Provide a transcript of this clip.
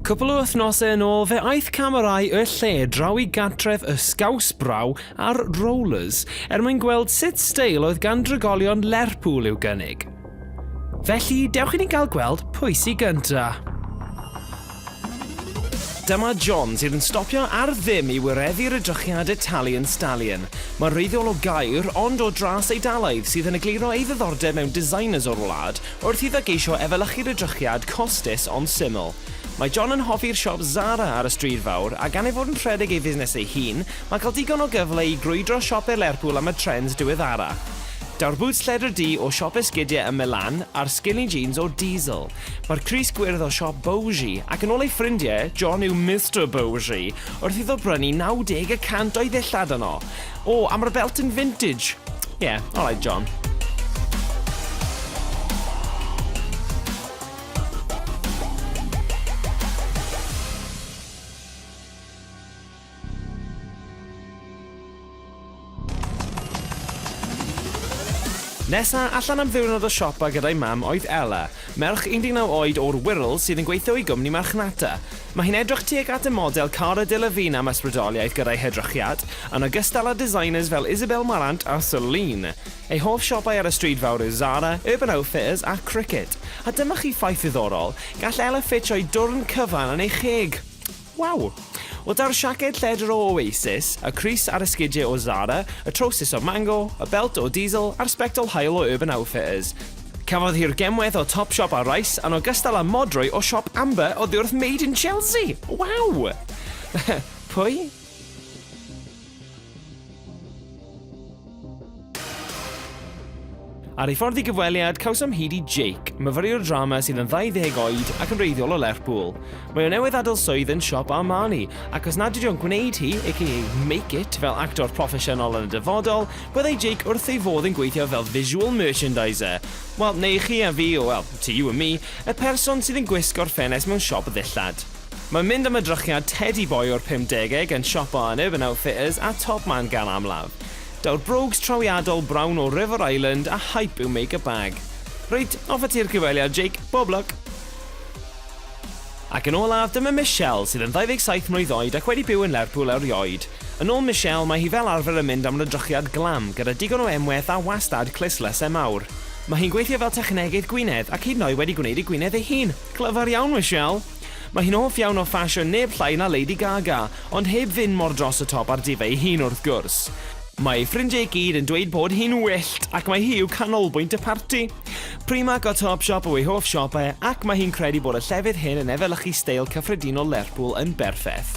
Cwpl o wythnosau yn ôl, fe aeth camerâu y lle draw i gatref y sgaws braw a'r Rollers er mwyn gweld sut steil oedd gan drigolion Lerpwl i'w gynnig. Felly, dewch i ni gael gweld pwy sy gynta. Dyma John sydd yn stopio ar ddim i wireddu'r edrychiad Italian Stallion. Mae'n wreiddiol o Gaer, ond o dras Eidalaidd sydd yn egluro ei ddiddordeb mewn designers o'r wlad wrth iddo geisio efelychu'r edrychiad costus ond syml. Mae John yn hoffi'r siop Zara ar y Stryd Fawr, a gan ei fod yn rhedeg ei fusnes ei hun, mae cael digon o gyfle i grwydro siope Lerpwl am y trends diweddara. Daw'r bŵts lledr du o siop esgidiau ym Milan a'r skinny jeans o Diesel. Mae'r crys gwyrdd o siop Bowsey, ac yn ôl ei ffrindiau, John yw Mister Bowsey, wrth iddo brynu 90 y cant o'i ddillad yno. O, a mae'r belt yn vintage. Ie, yeah, alright John. Nesa allan am ddiwrnod o siopa gyda'i mam oedd Ella, merch 19 oed o'r Wirral sydd yn gweithio i gwmni marchnata. Mae hi'n edrych tuag at y model Cara Delevingne am ysbrydoliaeth gyda'i hedrychiad, yn ogystal â designers fel Isabel Marant a Celine. Ei hoff siopau ar y stryd fawr yw Zara, Urban Outfitters a Cricket. A dyma chi ffaith ddiddorol, gall Ella ffitsio'i dwrn cyfan yn ei cheg! Waw! O daw'r siaced lledr o Oasis, y crys a'r esgidie o Zara, y trowsus o Mango, y belt o Diesel a'r sbectol haul o Urban Outfitters. Cafodd hi'r gemwaith o Topshop a Rice yn ogystal â modrwy o siop Amber oddiwrth Made in Chelsea! Waw! Pwy? Ar ei ffordd i gyfweliad, cawsom hyd i Jake, myfyriwr drama sydd yn 20 oed ac yn reiddiol o Lerpwl. Mae o newydd adael swydd yn siop Armani, ac os nad ydy o'n gwneud hi, aka make it, fel actor proffesiynol yn y dyfodol, byddai Jake wrth ei fodd yn gweithio fel visual merchandiser. Wel, neu chi a fi, o wel, to you and me, y person sydd yn gwisgo'r ffenest mewn siop ddillad. Mae mynd am edrychiad tedi boi o'r pumdegeg yn siop o aneb yn Outfitters a Top Man gan amlaf. Daw'r brogues trawiadol brown o River Island a hype yw make-up bag. Reit, off ati'r cyfweliad Jake, bob lwc! Ac yn olaf, dyma Michelle, sydd yn 27 mlwydd oed ac wedi byw yn Lerpwl erioed. Yn ôl Michelle, mae hi fel arfer yn mynd am rydrychiad glam, gyda digon o emweth a wastad clustlyse mawr. Mae hi'n gweithio fel technegydd gwinedd ac hyd yn oed wedi gwneud ei gwinedd ei hun! Clyfar iawn Michelle! Mae hi'n hoff iawn o ffasiwn neb llai na Lady Gaga, ond heb fynd mor dros y top â'r diva ei hun wrth gwrs. Mae ei ffrindiau i gyd yn dweud bod hi'n wyllt ac mae hi yw canolbwynt y parti. Primark a Topshop yw ei hoff siopau ac mae hi'n credu bod y llefydd hyn yn efelychu steil cyffredinol Lerpwl yn berffaith.